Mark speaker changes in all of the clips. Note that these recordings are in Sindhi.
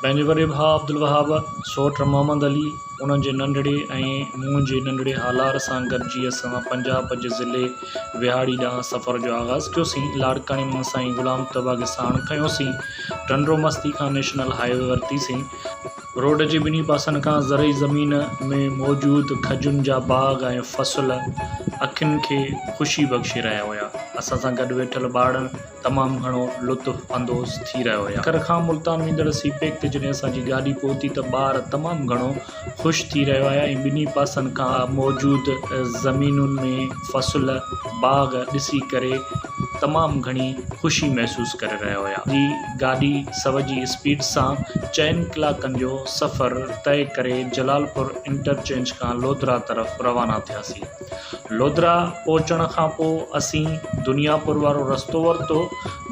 Speaker 1: پنهنجي وڏي ڀاء عبدالوهاب، سوٽ محمد علي، انهن جي ننڍڙي ۽ مون جي ننڍڙي هالار سان گڏجي اسان پنجاب جي ضلعي ويهاڙي ڏانهن سفر جو آغاز ڪيوسين. لاڙڪاڻي مان سائين غلام طبعه کي ساڻ کنيوسين. ٽنڊو مستي کان نيشنل هاء وي ورتيسين. روڊ جي ٻنهي پاسن کان زرعي زمين ۾ موجود کجين جا باغ ۽ فصل اکين کي خوشي بخشي رهيا هيا. اسان سان گڏ ويٺل ٻارڙن تمام گهڻو لطف اندوز ٿي رهيا هيا. سکر کان ملتان ويندڙ سي پيڪ تي جڏهن اسان جي گاڏي پهتي ته ٻار تمام گهڻو خوش ٿي رهيا هيا ۽ ٻنهي پاسن کان موجود زمينن ۾ فصل باغ ڏسي ڪري تمام گهڻي خوشي محسوس ڪري رهيا هيا. گاڏي سو جي اسپيڊ سان چئن ڪلاڪن جو سفر طئي ڪري جلال پور انٽرچينج کان لودرا طرف روانا ٿياسين. لودرا پهچڻ کان پوء اسين دنيا پور وارو رستو ورتو.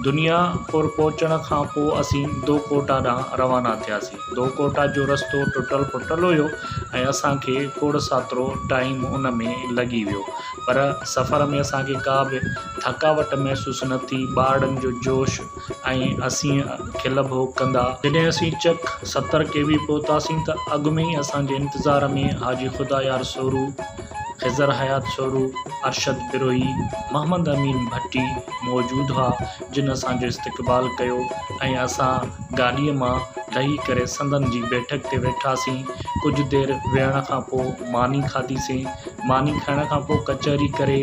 Speaker 1: دنيا پور پهچڻ کان پوء اسين دو ڪوٽا ڏانهن روانا ٿياسين. دو ڪوٽا جو رستو ٽٽل ڦٽل هيو ۽ اسان کي کوڙ ساترو ٽائيم ان ۾ لڳي ويو پر سفر ۾ اسان کي ڪا به ٿڪاوٽ محسوس نه ٿي. ٻارڙن جو جوش ۽ اسين کل ڀوڳ ڪندا. جڏهن اسين چڪ ستر ڪي وي پهتاسين ته اڳ ۾ ئي اسان جي انتظار ۾ حاجي خدايار سورو، خضر حيات سورو، ارشد بروهي، محمد امين ڀٽي موجود هئا جن اسان جو استقبال ڪيو ۽ اسان گاڏيء مان لهي ڪري سندن جي بيٺڪ تي ويٺاسين. ڪجهه دير ويهڻ کان پوء ماني کاڌيسين. ماني کائڻ کان پوء ڪچهري ڪري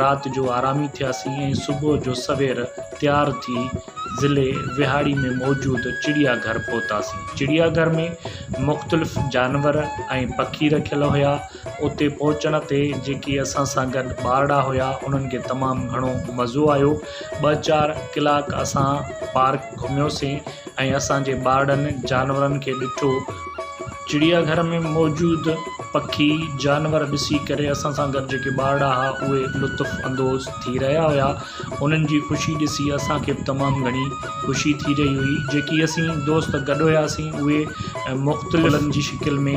Speaker 1: رات جو آرامي ٿياسين ۽ صبح جو سوير تيار ٿي ضلعي وهاڙي ۾ موجود چڙيا گهر پهتاسين چڙيا گهر ۾ مختلف جانور ۽ پکي رکيل هيا اتي پهچڻ تي جيڪي اسان سان گڏ ٻارڙا هيا انهن کي تمام گهڻو مزو آيو ٻه چار ڪلاڪ اسان پارڪ گهميوسين ۽ اسان جي ٻارڙن جانورن کي ڏٺو چڙيا گهر ۾ موجود پکي جانور ڏسي ڪري اسان سان گڏ جيڪي ٻارڙا هئا اهي لطف اندوز ٿي رهيا هيا انهن جي خوشي ڏسي اسان کي به تمام گهڻي خوشي ٿي رهي هئي جيڪي اسين دوست گڏ هياسين اهي مختلف ڦلن جي شڪل ۾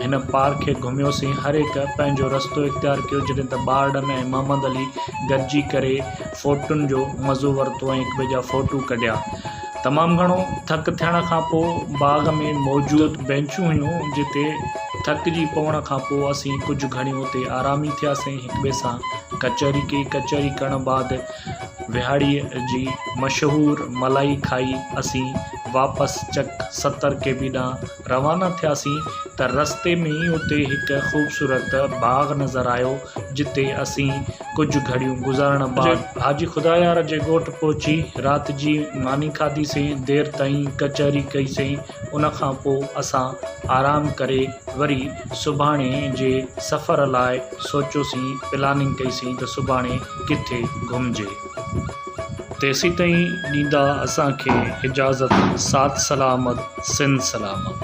Speaker 1: هن پارڪ کي گهميوسين هر هڪ پنهنجو رستو اختيار ڪيو جڏهن ته ٻارڙن ۽ محمد علي گڏجي ڪري فوٽن جو مزو ورتو ۽ هڪٻئي جا فوٽو ڪڍيا تمام گهڻو ٿڪ ٿيڻ کان پوء باغ ۾ موجود بينچون هيون جتي ٿڪ جي پوڻ کان پوء اسين ڪجهه گهڙيون اتي آرامي ٿياسين هڪ ٻئي سان ڪچهري ڪئي ڪچهري ڪرڻ بعد وهاڙي جي مشهور ملائي کائي اسين واپس چڪ ستر ڪي بي ڏانهن روانا ٿياسين ته رستي ۾ ئي اتي هڪ خوبصورت باغ نظر آيو جتي اسين ڪجهه گهڙيون گذارڻ بعد حاجي خدايار جي ڳوٺ پهچي رات جي ماني کاڌي سين دير تائين ڪچهري ڪئي سين ان کان پوء اسان آرام ڪري وري سڀاڻي جي سفر لاء سوچيوسين پلاننگ ڪئي سين ته سڀاڻي ڪٿي گهمجي. تيسيتائين ڏيندا اسان کي اجازت سات سلامت سنڌ سلامت.